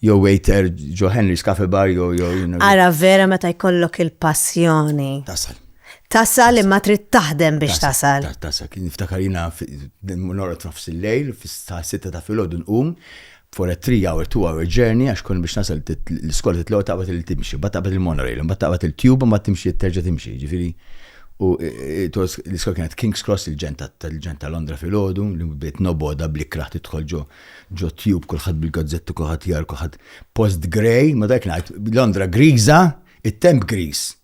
Speaker 4: jew waiter ġo Henry's Cafe Bar jew jew. Ara vera
Speaker 1: meta jkollok il-passjoni. Tasal. Tasal imma trid taħdem biex tasal. Tasal, kien niftakar
Speaker 4: jina norot nofs il-lejl, fis-sitta ta' filgħodu nqum, for a three hour, two hour journey għax kont biex nasal l-iskola titlaw taqbad il timxi, bat taqbad il-monorail, bat taqbad il-tube, bat timxi terġa timxi, ġifiri. U e, e, l-iskola kienet King's Cross il-ġenta tal-ġenta Londra fil-ħodu, li bdiet noboda blikra tidħol ġo ġo tube kulħadd bil-gazzetti kulħadd jar kulħadd post grey, ma dak ngħid Londra griża, it-temp griż.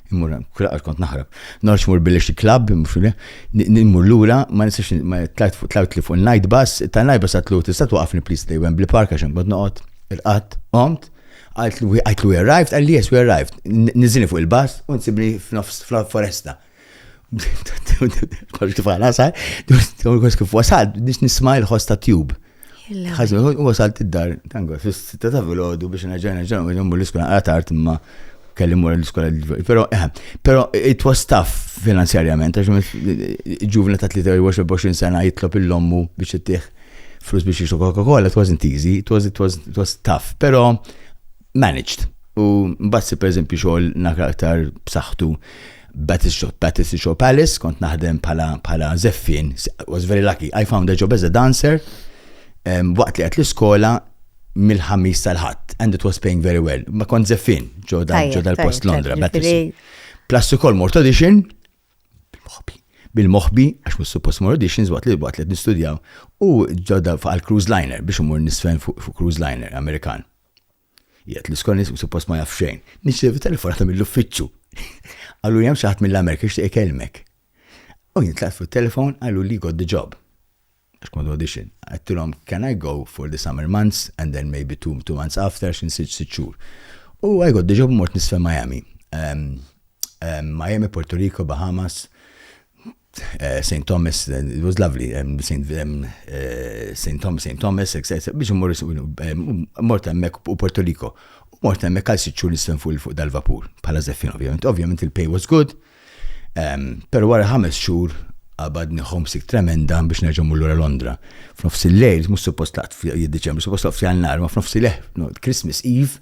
Speaker 4: Immur hemm, kull darba kont naħrab. Norx mur billi xi klabb, nimmur lura, ma nistax ma tlajt fuq tlajt li fuq il-night bus, ta' night bus għatlu tista' twaqqafni please li Wembley Park għax hemm kont noqgħod, irqatt, qomt, għajtlu we arrived, qalli yes we arrived, niżilni fuq il-bus u nsibni f'nofs foresta. Kollox kif għana sar, kif wasal, nisma' il-ħoss ta' tube. Ħażin, u wasalt id-dar, tango, fis-sitta ta' filgħodu biex nerġa' nerġa' nagħmlu l-iskola għal tard imma kelli mur l-iskola Però, eh, però it was tough finanzjarjament, għax ġuvna ta' 23 sena jitlob il-lommu biex ittih flus biex jixu Coca-Cola, it wasn't easy, it was, it was, it was tough, però managed. U mbagħad per eżempju xogħol nakra aktar b'saħħtu Batistio, Batistio Palace, kont naħdem pala, pala zeffin, was very lucky, I found a job as a dancer, um, waqt li għet l-iskola mill-ħamis tal-ħadd, and it was paying very well. Ma kont zeffin, ġo dal-post Londra, Batistio. Plus ukoll mort audition, bil-moħbi, bil-moħbi, għax mus suppost mort auditions waqt li waqt li nistudjaw, u ġodda fuq għal-cruise liner, biex umur nisfen fuq cruise liner Amerikan. Jgħid li skont nismu suppost ma jaf xejn. Nirċievi telefonata mill-uffiċċju. Qaluli hemm xi ħadd mill-Amerika jixtieq ikellmek. U jien tlaqt fuq it-telefon qaluli got the job. Għax kont audition. Għedtilhom can I go for the summer months and then maybe two, two months after għax nsiġ sitt xhur. U I got the job mort nisfel Miami. Um, um, Miami, Puerto Rico, Bahamas, St. Thomas, it was lovely, St. Thomas, St. Thomas, biex immur mort hemmhekk u Porto Rico. Mort hemmhekk għal sitt xhur nistem fuq dal-vapur bħala żeffin ovvjament. Ovvjament il-pay was good, però wara ħames xhur qabadni homesick tremenda biex nerġa' mmur lura Londra. F'nofs il-lejl, mhux suppost laqt f'Diċembru, suppost laqt f'Jannar, ma f'nofs il-lejl, Christmas Eve,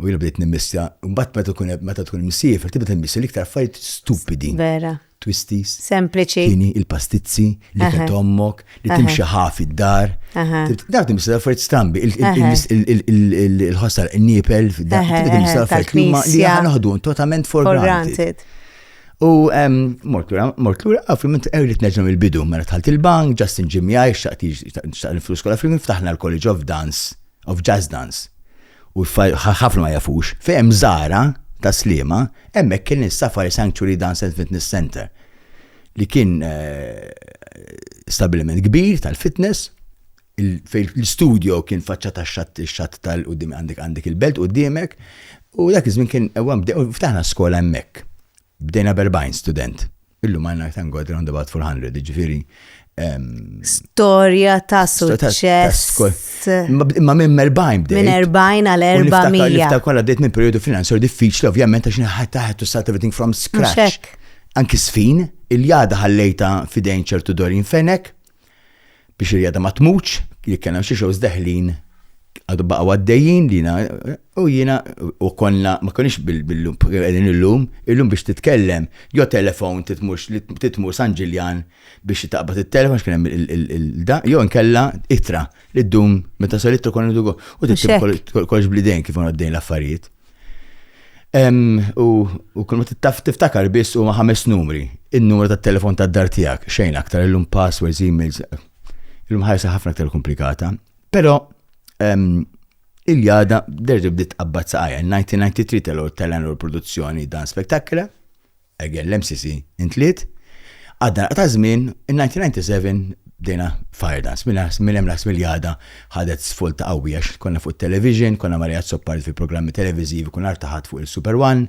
Speaker 4: U jiena bdejt nimmissja, mbagħad meta tkun meta tkun imsiefer tibda timmissja l-iktar affarijiet stupidi. Vera. Twisties. Sempliċi. Kini,
Speaker 1: il-pastizzi,
Speaker 4: li kien tommok, li timxi ħafi d-dar. Daf timmissja affarijiet strambi, il-ħossar, il-nipel, daf timmissja affarijiet li ma li ħanoħdu totalment for granted. U mort lura, mort lura, għafri minn t-għirrit neġem il-bidu, mela tħalt il-bank, Justin Jimmy għaj, xaqti xaqti il-flus kolla, fil-min ftaħna l-College of Dance, of Jazz Dance. U ħafna ma jafux, fejn hemm Zahra tas-Sliema, hemmhekk kien is-Safari Sanctuary Dance and Fitness Centre li kien stabbiliment kbir tal-fitness fejn l-istudio kien faċċat għax-xatt ix-xatt tal-quddiem għandek għandek il-belt quddiemek u dak iż-żmien kien hemm bdejna ftaħna skola hemmhekk. Bdejna b'erbgħin student. Illum għandna aktar ngħid around about 400, jiġifieri. Storja
Speaker 1: ta' suċċess. Ma minn
Speaker 4: erbgħin bdejt. Minn erbgħin għal erba'
Speaker 1: mija. Niftakar kollha bdejt minn perjodu
Speaker 4: finanzjarju diffiċli ovvjament għax nħadd taħt u start everything from scratch. Anki sfin, il-jada ħallejta fidejn ċertu dorin fenek, biex il-jada ma tmutx, li kena xi xows deħlin għadu baqa għaddejjin li u jina u konna ma konix bil-lum, għedin il-lum, il-lum biex titkellem, jo telefon titmux li titmur San Ġiljan biex taqbad il-telefon xkienem il-da, jo nkella itra li d-dum meta sal-itra konna dugo u t-tib kollox blidejn kif għaddejn l-affarijiet. U kull ma tiftakar biss huma ħames numri, in-numru tat-telefon tad-dar tiegħek, xejn aktar illum passwords, emails, illum ħajsa ħafna aktar komplikata. Però il-jada derġa bdiet qabbad saqajja. 1993 tal-għor tal-għanur produzzjoni dan spektakla. Again l-MCC intliet. Għadda naqra ta' żmien, in-1997 bdejna fire dance. Minn hemm l-Ħadd Miljada ħadet svolta qawwija għax konna fuq it-television, konna ma' Riyad Soppard fi programmi televiżivi, kull nhar ta' Ħadd fuq il-Super One,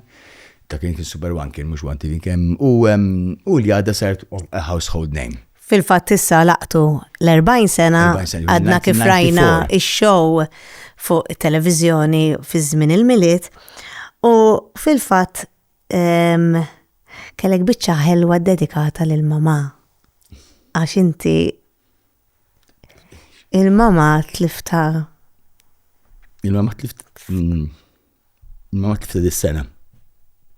Speaker 4: dak kien is-Super One kien mhux One TV kien, u Ljada saret a household name. Fil-fatt issa
Speaker 1: laqtu l-40 sena għadna kif rajna x-show fuq it-televiżjoni fi żmien il-Milied u fil-fatt Ehm, kellek biċċa ħelwa dedikata lil mamà. Għax inti il-mamà tlifta.
Speaker 4: Il-mamà tlifta. Mm, il-mamà tlifta dis-sena.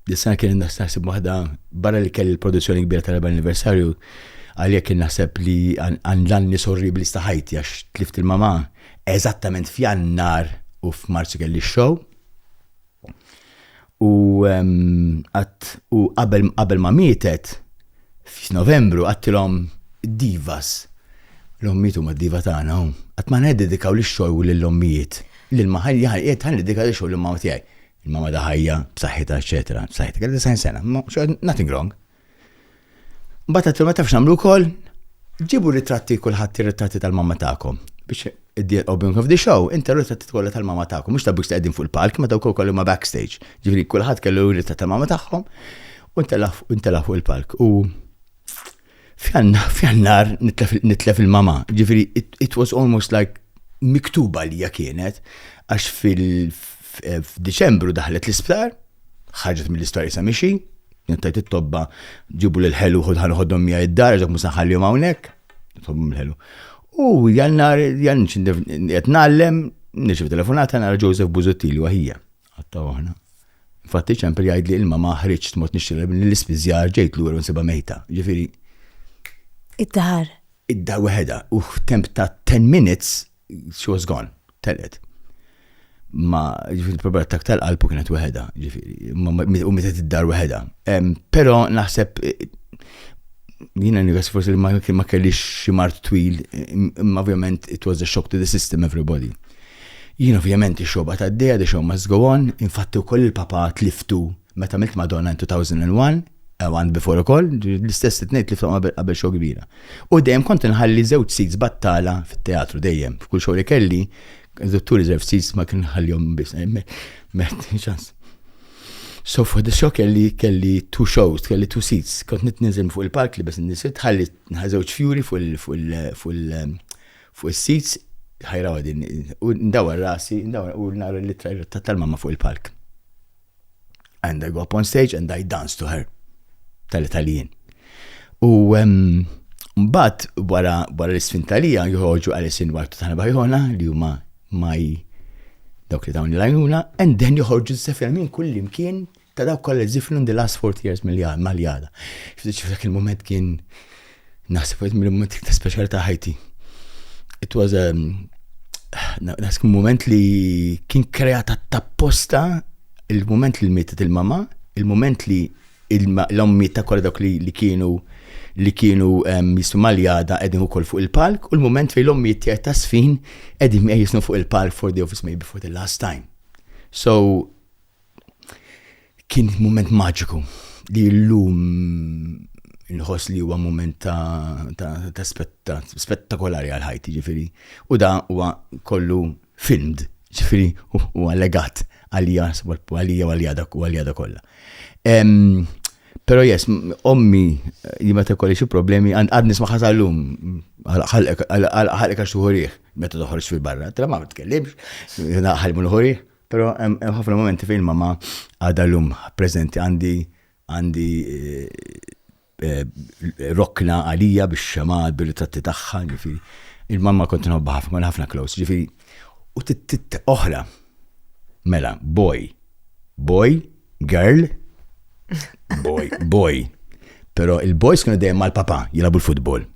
Speaker 4: Dis-sena kien naħseb waħda barra li kelli l-produzzjoni kbira tal-4 anniversarju għalhekk kien naħseb li għandlanni sorri bli staħajti għax tlift il-mamà eżattament f'jannar u f'Marzu kelli x-show U qabel ma mietet, f'Novembru għattilhom divas. L-ommijiet huma diva tagħna hawn. Qatt ma neddedikaw lix xogħol u lill-ommijiet. Lil ma ħalli ħalli ħalli dedika lix xogħol lill-mama tiegħi. Il-mama ta' ħajja, b'saħħitha, eċetera. B'saħħitha, kelli 90 sena. Nothing wrong. Bata t ma tafx namlu kol, ġibu ritratti kullħat ritratti tal-mamma ta'kom. Biex id-dir u bimkom f'di show, inta ritratti kollha tal-mamma ta'kom, mux ta' biex t-eddin fuq il-palk, ma ta' kol kollu ma backstage. Ġifri kullħat kellu rittat tal-mamma ta'kom, u inta lafu il-palk. U fjannar nitlef il-mamma, ġifri it was almost like miktuba li kienet, għax fil-Deċembru daħlet l-isptar, Ħarġet mill-isptar isa mixi, kienet tajt it-tobba ġibu lil ħelu ħod ħan ħoddhom mija id-dar, ġok musa ħallihom hawnhekk, tobba mill-ħelu. U jannar, jannar, qed nallem, nirċiv telefonata nara Joseph Buzuttili waħija. Għatta waħna. Infatti ċempel jgħid li ilma ma ħriġt mod nixtieq l-ispiżjar ġejt lura nsibha mejta. Ġifieri.
Speaker 1: Id-dar. Id-dar
Speaker 4: weħeda u temp ta' 10 minutes she was gone, telqet. Ma ġifiri problema ta' tal qalbu kienet weħeda, ġifiri, u meta id-dar weħeda. Pero naħseb jina nivas forsi li ma kellix xi mart twil, imma ovvjament it was a shock to the system everybody. Jien ovvjament ix-xoba ta' d-deja, the show must go on, infatti wkoll il-papa tliftu Meta milt Madonna in 2001, ew and before ukoll, l-istess li tnejt li ftom qabel qabel show kbira. U dejjem kont inħalli żewġ seats battala fit-teatru dejjem. F'kull show li kelli, dottur iżerv seats ma kien ħallihom biss. Meħt ċans. So for the show kelli kelli two shows, kelli two seats. Kont nitniżel fuq il-palk li bes nisit, ħalli żewġ fjuri fuq il-seats, ħajra għadin, u ndawar rasi, ndawar u nara li tal-mamma fuq il-palk. And I go up on stage and I dance to her. Tal-Italien. U mbagħad wara wara l-isfin talija joħorġu Alice in White tagħna Bajona li huma maj dawk li dawn il-għajnuna, and then joħorġu s-sefja minn kull imkien ta' dawk kollha zifnu in the last 40 years mal-jada. F'dik il-moment kien Naħseb għed mill-moment iktar speċjali ta' ħajti. It was a um, naħseb moment li kien kreata tapposta il-moment li mietet il-mama, il-moment li l-ommiet ta' kolla dawk li kienu li kienu um, jismu maljada edin u fuq il-palk u l-moment fej l-ommiet tiegħi ta' sfin edin jisnu fuq il-palk for the office maybe for the last time. So, Kien mument maġiku li llum inħoss li huwa mument ta' spettakolari għal ħajti, ġifieri. U da huwa kollu filmed, ġifieri huwa legat għalija għalija u għalija u għalija da kollha. Però yes, ommi jien meta jkolli xi problemi għad nismagħha sal-lum, ħalqek għax tieħu riħ meta toħroġ fil-barra, tara ma tkellimx, ħalli ma nieħu riħ. Però hemm ħafna momenti fejn mama għadha llum preżenti għandi għandi eh, rokna għalija biex xema bil-ritratti tagħha, ġifieri. Il-mamma kont nħobba ħafna, kont ħafna close, ġifieri. U tit oħra. Mela, boy, boy, girl, boy, boy. Però il-boys kienu dejjem mal-papa jilabu l-futbol.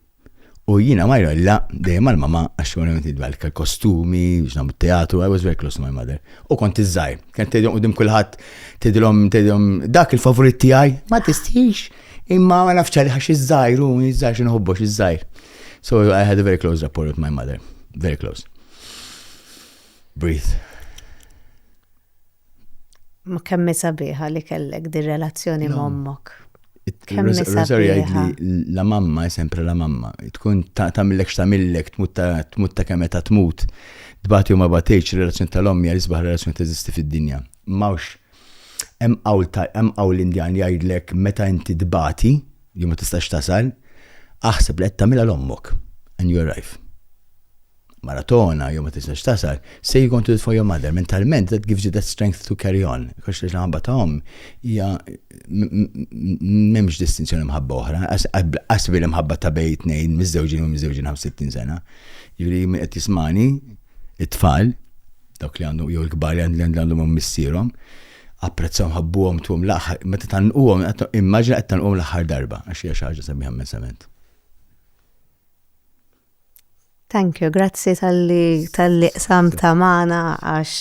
Speaker 4: U jina ma jrolla dejjem mal mama għax konna għamil nidwal kostumi, biex nagħmlu teatru, I was very close to my mother. U kont iżżajr, kien tgħidhom qudiem kulħadd, tgħidhom tgħidhom dak il-favorit tiegħi, ma tistix, imma ma nafx għalih għax iżżajr u iżżajr xi nħobbux iżżajr. So I had a very close rapport with my mother, very close. Breathe.
Speaker 1: Ma kemm sabiħa li kellek di relazzjoni ma' ommok. Kemm
Speaker 4: sabiħa. La mamma, sempre la mamma. Tkun tamillek xtamillek, tmut ta' kemm ta' tmut. Tbati u ma batejċ, relazzjoni tal-ommi għal isbaħ relazzjoni teżisti fid-dinja. Mawx, hemm qawl l-Indjan li jgħidlek meta inti tbati, li ma tistax tasal, aħseb li qed tagħmilha l-ommok. And you arrive. mara togħna jew ma tistax tasal, say you're going to do it for your mother, mentalment that gives you that strength to carry on. Għax li ħabba ta' omm hija m'hemmx distinzjoni mħabba oħra, qasbi li mħabba ta' bej tnejn miżewġin u miżewġin 65 sena. Jiġri min qed jismani, it-tfal, dawk li għandhom jew il-kbar li għandhom missierhom, apprezzawhom ħabbuhom tuhom l-aħħar, meta tanquhom, immaġina qed tanquhom l-aħħar darba, għax hija xi ħaġa sabiħa immensament.
Speaker 1: Thank you, grazzi tal-li tal-li qsamta magħna għax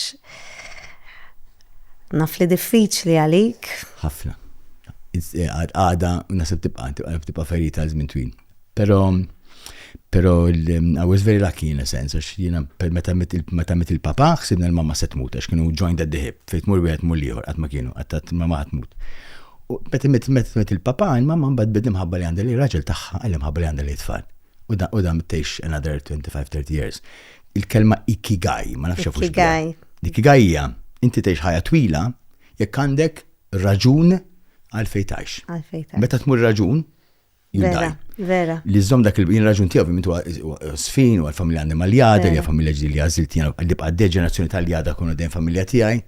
Speaker 1: naf li diffiċli għalik. Ħafna.
Speaker 4: Eh, għada, nasib tibqa, tibqa ferita għal żmien twil. Pero, pero, mm, I was very lucky in a sense, għax jina, meta mit il-papa, xsibna l-mamma se tmut, għax kienu joined at the hip, fejt mur wieħed mur liħor, għat ma kienu, għat ma ma tmut. Meta mit il-papa, il-mamma mbad bidim ħabba li għandha li raġel taħħa, għallim ħabba li għandha li tfal. U da, u da mittejx another 25-30 years. Il-kelma ikigai, ma nafx jafux Ikigai. Ikigai
Speaker 1: hija,
Speaker 4: inti tgħix ħajja twila jekk għandek raġun għal fejtax. Għal fejtax. Meta tmur raġun, Vera,
Speaker 1: vera. Li żżomm dak il-bin
Speaker 4: raġun tiegħu minn tuwa sfin u għal-familja għandem għal-jada, li familja ġdi li għazilt jgħal li bqad deġenerazzjoni tal-jada kunu dejjem familja tiegħi.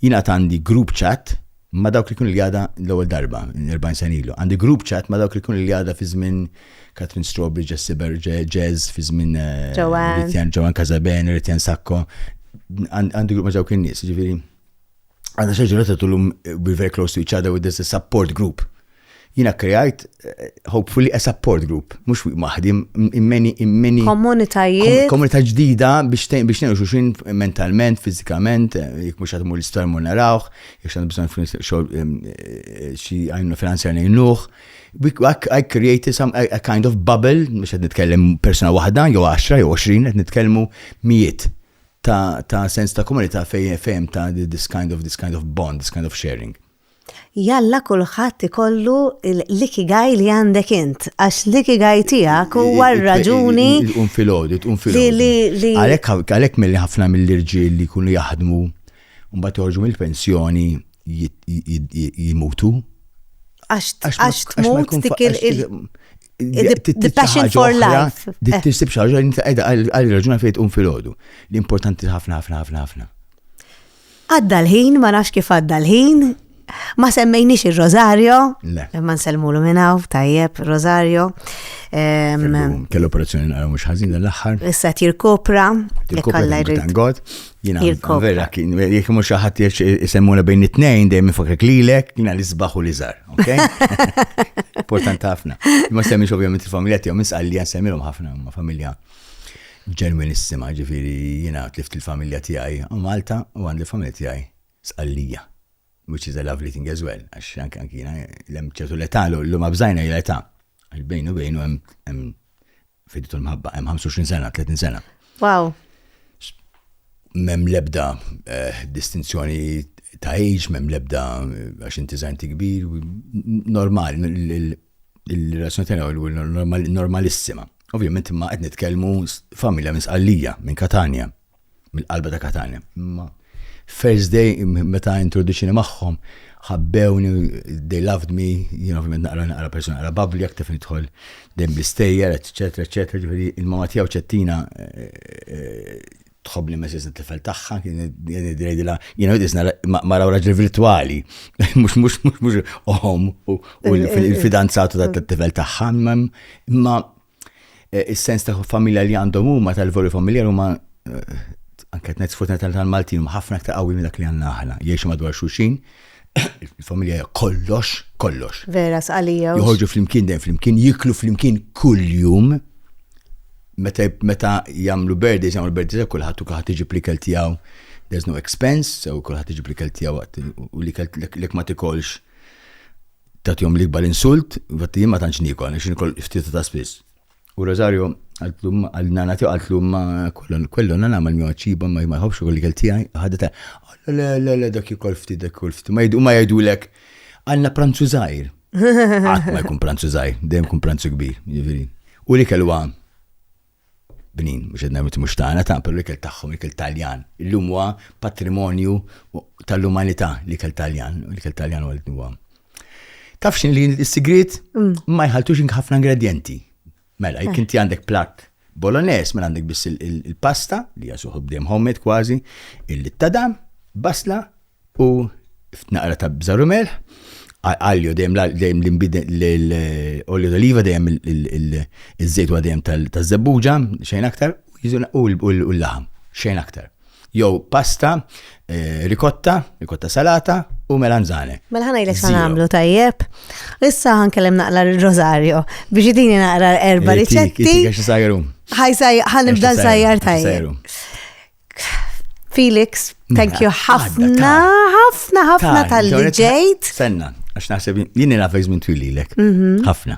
Speaker 4: Jina għandi group chat ma' dawk li kienu l-Jada l-ewwel darba, 40 sena ilu. Għandi group chat ma' dawk li kienu l-Jada fi żmien Katrin Strawberry, Jessie Berger, Jazz, fi żmien eh, Joanne Casaben, Ritjan Sakko. Għandi group ma' dawk in-nies, ġifieri. Għandna xi ġurnata tulhom we're very close to each other with this support group. Jiena kkreajt hopefully a support group, mhux waħdi, immeni immeni. Komunitajiet. Komunità ġdida biex biex nenu xuxin mentalment, fiżikament, eh, jekk mhux qed mur l-istormu narawh, jekk x'għandu bżonn eh, xi għajnu finanzjar ngħinuh. I created some a kind of bubble, mhux qed nitkellem persuna waħda, jew 10 jew 20 qed nitkellmu mijiet ta' sens ta' komunità fejn fejn ta' this kind of this kind of bond, this kind of sharing. Jalla
Speaker 1: kulħadd ikollu l-ikigai li għandek int, għax l-ikigai tiegħek huwa r-raġuni. Tqum filgħodu, tqum
Speaker 4: filgħodu. Għalhekk milli ħafna mill-irġiel li jkunu jaħdmu mbagħad joħorġu mill-pensjoni jimutu.
Speaker 1: Għax tmut dik il- The passion for life. Dik
Speaker 4: tisib xaġa li għal raġuna fejn tqum filgħodu. L-importanti ħafna ħafna ħafna ħafna. Għadda
Speaker 1: l-ħin, ma nafx kif għadda l-ħin, ma semmejniex ir-Rosario, ma nsellmulu minn hawn, tajjeb, Rosario.
Speaker 4: Kellu operazzjoni naqra mhux ħażin l-aħħar. Issa tirkopra,
Speaker 1: jkollha
Speaker 4: jrid. Jina, vera, kien, jek mux xaħat jisemmuna bejn it-tnejn, dejjem fakek lilek, jina li zbaħu li zar, ok? Important ħafna. Ma semmix ovvijament il-familja tiegħu, mis għalli għan semmilhom ħafna ma' familja Ġenwinissima, jiġifieri jiena tlift il-familja tiegħi Malta u għandi l-familja tiegħi Sqallija. Which is a lovely thing as well, għax anke anke jiena hemm ċertu l-età l-lum abżajna hi l-età. Għax bejn u bejn u hemm fiditu l-mħabba, hemm 25 sena, 30 sena. Wow. Mem lebda eh, distinzjoni ta' age, mem lebda eh, għax inti zaħinti kbir, normal, il-relazzjoni tagħna u normalissima. Ovvjament imma qed nitkellmu familja minn Sqallija, minn Katania, minn qalba ta' Katania. Imma first day meta introduċini magħhom, ħabbewni, they loved me, jien ovvjament naqra naqra persuna naqra babli, aktar fin idħol dejjem bl-istejjer, eċetera, eċetera, ġifieri il-mama tiegħu ċettina eh, eh, tħobbni mezz it-tifel tagħha, kien jgħidilha jiena qed isna mara raġel virtwali, mhux mhux mhux mhux oħom u l-fidanzatu tat-tifel tagħha, imma eh, is-sens ta' familja li għandhom huma tal-voli familjar huma eh, anke qed ngħid tal-Maltin huma ħafna aktar qawwi minn dak li għandna aħna, jgħixu madwar xulxin, il-familja kollox, kollox. Vera, sqalija.
Speaker 1: Joħorġu fl-imkien dejjem
Speaker 4: fl-imkien, jiklu fl-imkien kull-jum, Meta meta jagħmlu birthdays, jagħmlu birthdays għal kulħadd u kulħadd iġib l-ikel tiegħu. There's no expense, so kulħadd iġib l-ikel tiegħu waqt u l-ikel lek ma tikolx tagħtihom l-ikbar insult, vat jien ma tantx nikol, għax nikol ftit ta' spiss. U Rosario għallum għal nana tiegħu għallum ma kollon kollon nana ma l-mjom ċiba ma ma jħobx ukoll ikel tiegħi ħadet le le le dak jikol ftit dak jikol ftit ma jgħidu ma jgħidulek għandna pranzu żgħir. Għat ma jkun pranzu zaħi, dejjem kun pranzu kbir, ġiviri. U li kellu għam. Bnin, mux għedna mit mux taħna, ta' per li kell taħħom, li kell taljan. Illum huwa patrimonju tal-umanità li kell taljan, li kell taljan u għal-nuwa. Tafxin li s-sigrit mm. ma jħaltux ħafna ingredienti. Mela, jekk inti għandek platt Bolognese, mela għandek biss il-pasta, li hija suħu bdejjem homemade kważi, il-littadam, basla u naqra ta' bżaru melħ, għalju dejjem l-olju d'oliva dejjem il-żejt dejjem tal-żebbuġa, xejn aktar, u l-laħam, xejn aktar. jew pasta, eh, rikotta, rikotta salata u melanzane. Mela ħana jilek xan għamlu
Speaker 1: tajjeb. Issa ħan kellem naqra il-rosario biex idini naqra erba riċetti. Ħan nibda sajjar tajjeb. Felix, thank you ħafna, ħafna, ħafna tal-li ġejt. Senna, għax naħseb
Speaker 4: jini nafek zmin twililek. Mhm. ħafna.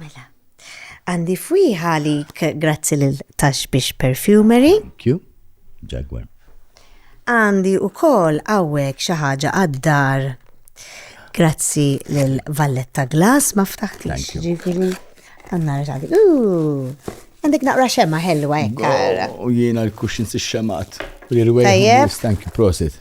Speaker 1: Mela, għandi fwiħa għalik grazzi lil Tax biex Perfumery. Thank you,
Speaker 4: Jaguar.
Speaker 1: Għandi u kol għawek xaħġa għad-dar. Grazzi lil Valletta Glass ma ftaħtix ġifiri. Għanna rġadi. Għandek naqra xemma ħelwa ekkar. U jiena l-kuxin
Speaker 4: si xemat. Tajjeb. Thank you, prosit.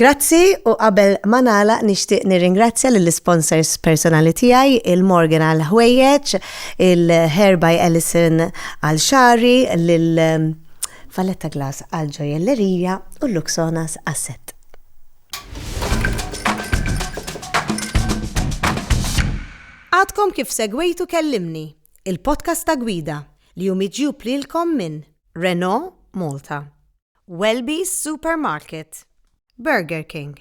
Speaker 1: Grazzi u qabel ma nagħlaq nixtieq nirringrazzja lill-isponsors personali tiegħi, il-Morgan għall-ħwejjeġ, il-Hair by Ellison għal xagħri, lil Valletta Glass għall-ġojellerija u l-Luxonas għas-sett. Għadkom kif segwejtu Kellimni, il-podcast ta' gwida li hu miġjub lilkom minn Renault Malta. Welby's Supermarket, Burger King,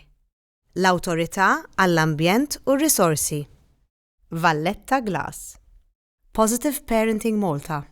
Speaker 1: l-Awtorità għall-Ambjent u r-Risorsi, Valletta Glass, Positive Parenting Malta,